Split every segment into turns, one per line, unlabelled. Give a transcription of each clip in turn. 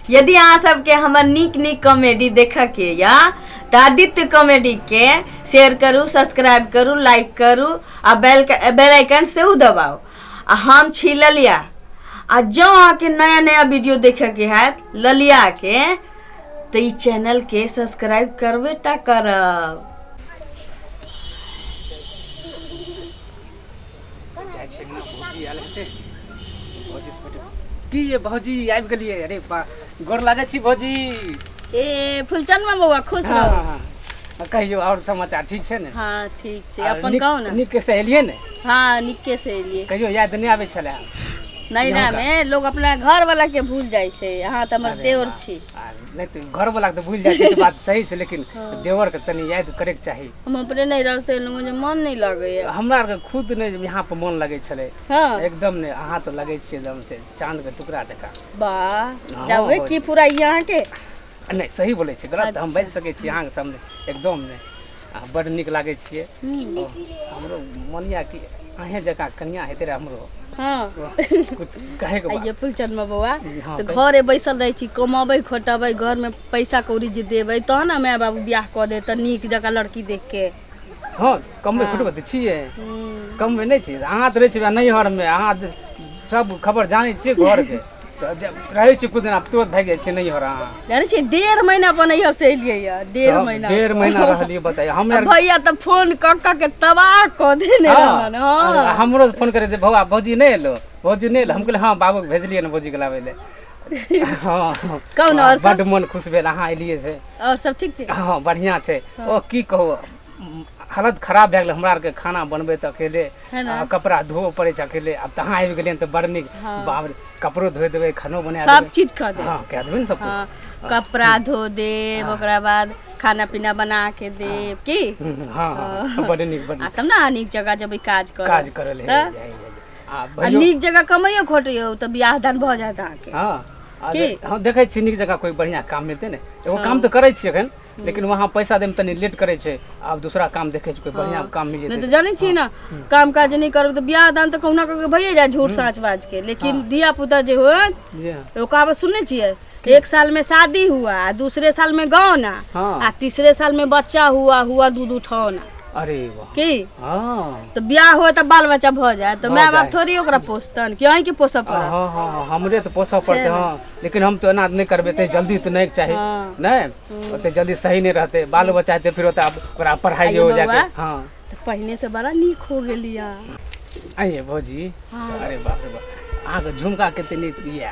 यदि अहाँ सबके हमर नीक नीक कॉमेडी देखऽ के या तऽ आदित्य कॉमेडी के शेयर करू सब्सक्राइब करू लाइक करू आ बेल बेल आइकन सेहो दबाउ आ हम छी ललिया आ जँ अहाँके नया नया वीडियो देखऽ के हैत ललिया के तऽ ई चैनल के सब्सक्राइब करबे टा करब जाइ छै ना भौजी
आयल हेतै भौजी से बैठे की ये भौजी आबि गेलियै अरे बा गोर लागै छी भौजी ए
फुलचनमा बौआ खुश हाँ, रहू हाँ, हाँ। आ कहियो और समाचार
ठीक छै ने हाँ ठीक छै आ अपन
नीक- कहू ने नीक के सहेलियै ने
हाँ नीके से
एलियै कहियो याद नहि आबै छलै
नहीं ना में
लोग अपना घर वाला के भूल जाय छै अहाँ तऽ हमर देवर छी आ, नहि तऽ घर
वाला के तऽ भूल जाइ छै तऽ बात सही छै लेकिन देवर के तनी याद करैके चाही हम अपने नैहर से
एलहुँ जे मन नहि लगैए हमरा आरके खुद नहि
यहाँ पर मन लगै छलै हँ एकदम नहि
अहाँ तऽ
लगै छियै एकदम से चाँद के टुकड़ा जकाँ वाह
जाबे की पूरा यहाँ के नहि सही
बोलै छियै गलत तऽ हम बाजि सकै छी अहाँके सामने एकदम नहि अहाँ बड्ड नीक लागै छियै हमरो मन यऽ कि अहें जकाँ कनिया हेतै रहे हमरो हँ
कुछ
कहे के ये फुलचंद बबुआ हँ,
तऽ घरे बैसल रहै छी कमबै खोटबै घरमे पैसा कौड़ी जे देबै तहन ने माय बाबू बियाह कऽ देत तऽ नीक जकाँ लड़की देख के हँ
कमबै खोटबै तऽ छियै कमबै नहि छियै अहाँ तऽ रहै छियै नैहरमे अहाँ तऽ सब खबर जानै छियै घरके तऽ जे रहै छियै किछु दिन आब तुरत भागि जाइ छियै नैहर अहाँ जानै छियै डेढ़
महीना अपन नैहर से एलियै यऽ डेढ़ तब महीना डेढ़ महीना रहलियै बताइए आ हमे
भैया तऽ फोन
कऽ कऽ के तबाह कऽ देने रहन हँ हँ हमरो फोन करे जे
भौआ भौजी नहि एलो भौजी नहि एलो हम कहलियै हँ बाबूके भेजलियै ने भौजीके लाबै लए हँ कहू ने आओर सब?
बड्ड मोन खुश भेल अहाँ
एलियै से आओर सब ठीक छै
हँ बढ़िआँ छै ओ
की कहू म, हालत खराब भए गेलै हमरा आरके खाना बनबै तऽ अकेले है ने? आ कपड़ा धोअ पड़ै छै अकेले आब तहाँ आबि गेलियै तऽ बड़ नीक बाप रे, कपड़ो धोए देबै खानो बना सब देबै चीज कऽ दे हँ कए
देबै ने सब हाँ, कुछ।
कपड़ा धो
देब ओकरा बाद खाना पीना बना के देब की हम्म, हँ हँ
बड्ड नीक बड्ड आ नीक तब ना नीक जगह जब ई
काज कर काज करल है तऽ? है, है, है।
आ
आ नीक जगह कमाइयो खोटियो तऽ बियाह दान भऽ जायत अहाँके हँ आ की? जे- हँ
देखै छी नीक जगह कोइ बढ़िआँ काम मिलतै ने एगो काम तऽ करै छियै एखन लेकिन वहाँ पैसा दैमे तनी लेट करै छै आब दूसरा काम देखै छै कोइ बढ़िआँ काम मिल नहि तऽ जेतै जानै छियै ने
काम काज नहि करब तऽ बियाह दान तऽ कहुना कऽ के भइए जाय झूठ साँच बाज के लेकिन धिया पुता जे होय जी हँ। एगो कहावत सुनने छियै एक साल में शादी हुआ आ दूसरे साल में गौना हाँ। आ तीसरे साल में बच्चा हुआ हुआ दूध उठौना अरे वाह की
हाँ
तो ब्याह हो तो बाल बच्चा भ जाए तो हो माय बाप जाए। थोड़ी ओकरा पोसतन कि अहीं के पोसऽ पड़त हाँ हाँ हाँ, हमरे तो
पोसऽ पड़ते से हाँ लेकिन हम तो एना नहीं करबे ते जल्दी तो नहीं चाही हाँ। नहीं ओते जल्दी सही नहीं रहते बाल बच्चा हेतै, फिर ओते आब ओकरा पढ़ाई आइए हो जाके बौआ। हाँ तो पहले से
बड़ा नीक हो गेलिया आइए
भौजी हाँ। अरे बाप रे बाप अहाँके झुमका कते नीक यऽ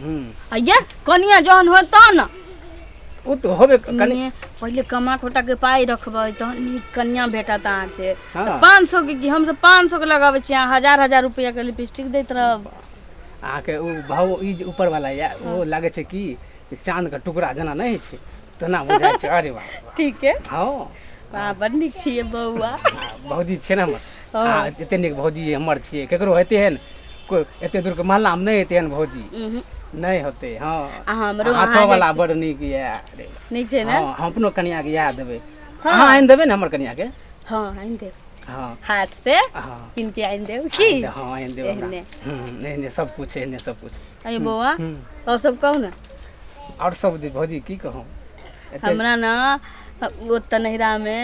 हम्म, आ ये कनिया जहन हो तहन न उ तो
होबे क- कनी ने, पहिले कमा खोटा
के पाई रखबै तहन नीक कनिया भेटत अहाँके हाँ। तऽ पाँच सौ के की हमसब पाँच सौ के लगाबै छी अहाँ हजार हजार रुपया के लिपस्टिक दैत रहब अहाँके
ओ भाव ई जे ऊपर वाला या ओ लागे छै कि चाँद के टुकड़ा जेना नहि होइ छै तेना बुझाइ छै अरे वाह ठीक है हँ
वाह
बड़ नीक
छियै बौआ भौजी छियै ने
हमर हँ। आ एते नीक भौजी हमर छियै केकरो हेते हन कोइ एते दूर के महल्ला मे नहि हेते हन भौजी उहुं, नहि होते हँ आ हमरो अहाँ हाथो वाला
बड़ नीक
ये अरे नीक छै ने हँ हम
अपनो कनिया के
इएह देबै हाँ। अहाँ आनि देबै ने हमर कनिया के हँ आनि देब
हँ हाट से हँ कीन के आनि देब की हँ आनि देबै हमरा
एहने। हम्म, एहने सब कुछ एहने सब कुछ अय हूँ बौआ हूँ
और सब कहु ने आओर सब
जे भौजी की कहू एते हमरा ने
ओतऽ नैहरामे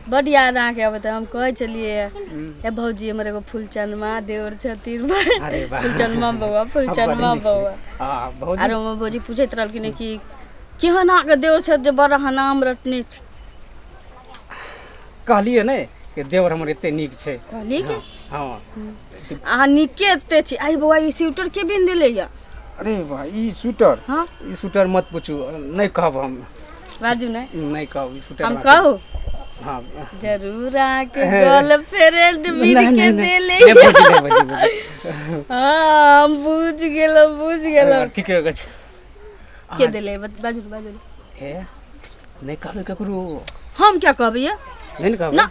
बड्ड याद अहाँके अबैत रहै हम कहै छलियै हूँ। हे भौजी हमर एगो फुलचनमा देवर छथिन अरे वाह। फुलचनमा बौआ फुलचनमा बड़ी बौआ नीक। आ भौजी आरो
हमर भौजी पूछैत
रहलखिन कि केहन अहाँके देवर छथि जे बड़ अहाँ नाम रटने छी
कहलियै ने कि देवर हमर एते नीक छै कहलियै कि
हँ
अहाँ
नीके एते छी आई बौआ ई स्वेटर के बिन देले या अरे भाई
ई स्वेटर हाँ? ई स्वेटर मत पूछू नहीं कहब हम बाजू ने
नहीं कहब ई स्वेटर हम हमरा- कहू हाँ
जरूर
आके गर्लफ्रेंड मिल नहीं, के नहीं, नहीं। देले ए, बुझि गेल, बुझि गेल। हाँ हम बुझ गेलो बुझ गेलो हाँ, ठीके कहै छी।
के
देले बत- बाजू ने, बाजू ने।
ए, नहीं
कहबै ककरो
हम
क्या कहबै ये नहीं ने कहबै ना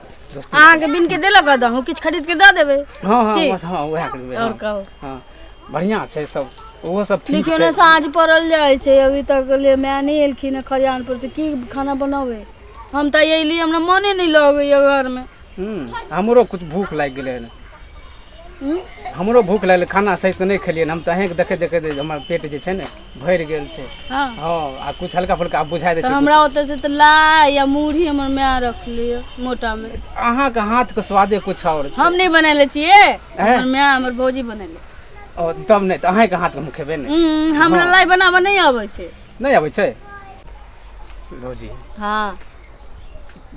सस्ती
अहाँके
बिन के देलक हँ
दहूँ किछु खरीद के दऽ देबै हाँ हाँ ठीक। बस हाँ
वएह करबै आओर
हाँ,
कहू
हाँ बढ़िया
छै सब ओहो सब ठीक देखियौ छै ने साँझ पड़ल जाइ
छै अभी तक ले माय नहि एलखिन हँ खरियान पर से की खाना बनाबै हम तऽ अयली हमरा मोने नहि लगैया घरमे हम्म, हमरो
कुछ भूख लागि गेलै हन हूँ? हमरो भूख लगलै खाना सही से नहि खेलियै हन। हम तऽ अहेंके देखे देखे हमर पेट जे छै ने भरि गेल छै हँ हँ आ
कुछ हल्का
फुल्का आब बुझाइ दै तऽ छै हमरा ओतऽ से तऽ
लाई या मुरही हमर माय रखली मोटा मे अहाँके हाथके
स्वादे कुछ आओर छै हम नहि बनैले छियै
हमर माय हमर भौजी बनैले ओ, तब नहि
तऽ अहाँके हाथके हम खेबे नहि हम्म, हमरा लाई बनाबऽ
नहि आबै छै नहि अबै छै
लो जी हँ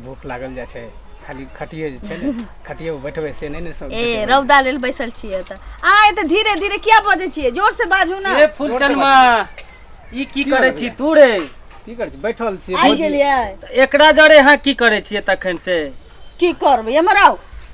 भूख लागल जाइ छै खाली खटिए जे छै ने खटिए पर बैठबै से नहि ने सब ए रौदा लेल बैसल
छियै तऽ अहाँ एते धीरे धीरे किया बजै छियै जोर से बाजू ने ए फुलचनमा
ई की करै छी तू रे की करै छी बैठल
छियै आबि गेलियै
एकरा जरे
अहाँ की करै छियै तखन से की करबै
एम्हर आउ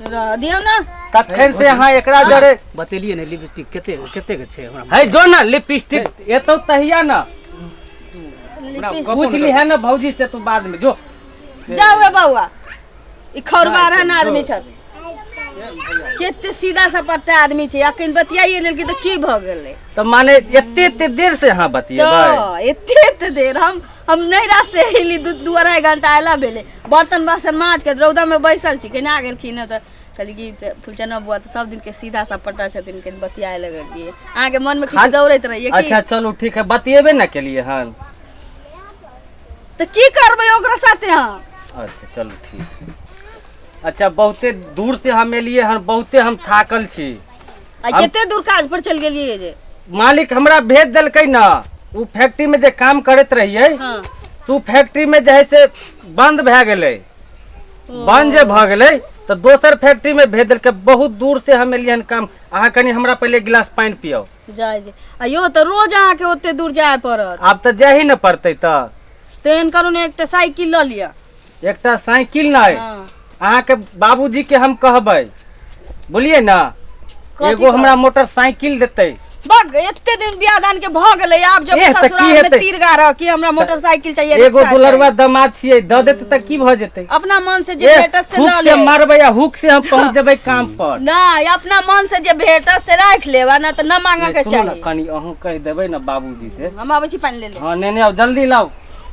दियौ
ने तखन से अहाँ
एकरा जरे बतेलिए ने लिपस्टिक
कते कते के छै हमरा है जो ना लिपस्टिक
एतौ तहिया ना
पूछ ली है ना भौजी से
तू बाद में जो जाओ ए
बौआ ई खौरबा रहन आदमी छत केते सीधा सपट्टा आदमी छै अखन बतियाइए लेल कि तऽ की भऽ गेलै तऽ माने एते
एते देर से अहाँ बतियेबै तऽ एते एते
देर हम हम नैरा से अयली दू दू अढ़ाइ घंटा अयला भेलै बर्तन बासन माँज के रौदामे बैसल छी केना आ गेलखिन हँ तऽ कहली कि तऽ फुलचना बुआ तऽ सब दिनके सीधा सपटा छथिन कनि बतियाए लगे गेलियै अहाँके मनमे किछु खान- दौड़ैत रहियै कि अच्छा चलू ठीक है बतिएबे
ना केलिए हन
तऽ की करबै ओकरा साथे हम अच्छा चलू
ठीक है अच्छा बहुते दूर से हम एलिए हन बहुते हम थाकल छी आ हम- कते
दूर काज पर चलि गेलियै जे मालिक हमरा
भेज देलकै न ओ फैक्ट्री में जे काम करत रहिए हँ से ओ
फैक्ट्री
में जे है से बंद भए गेलै बंद जे भऽ गेलै तऽ दोसर फैक्ट्री में भेज देलकै बहुत दूर से हम एलियै हन काम अहाँ कनि हमरा पहिले गिलास पानि पियाउ जाइ जे आ
यौ तऽ रोज अहाँके ओते दूर जाय पड़त आब तऽ जाही ने
पड़तै तऽ तेहन करू ने
एकटा साइकिल लऽ लिअ एकटा साइकिल
नहि हाँ। अहाँके बाबूजी के हम कहबै बोलिए ना कथी एगो हमरा मोटरसाइकिल देतै बग एते दिन
बियाह दान के भ गेलै आब जब एह, तऽ की ससुराल में हेतै? तीर
गारह
कि हमरा मोटरसाइकिल चाहिए एगो रिक्शा दुलरवा चाहिए। दमाद छियै
दऽ
देतै तऽ
की भऽ जेतै अपना मन से जे एह,
भेटत से हुक लऽ से ले
मारबै
आ
हुक से
हम
पहुँच जेबै काम पर नहीं अपना मन
से जे भेटत से राख लेब आ ना तो न मांगे के सुनू ने
चाहिए कनि अहूँ कहि देबै ने
बाबूजी से हम आबै छी
पानी ले
ले हाँ
नेने आउ
जल्दी
लाउ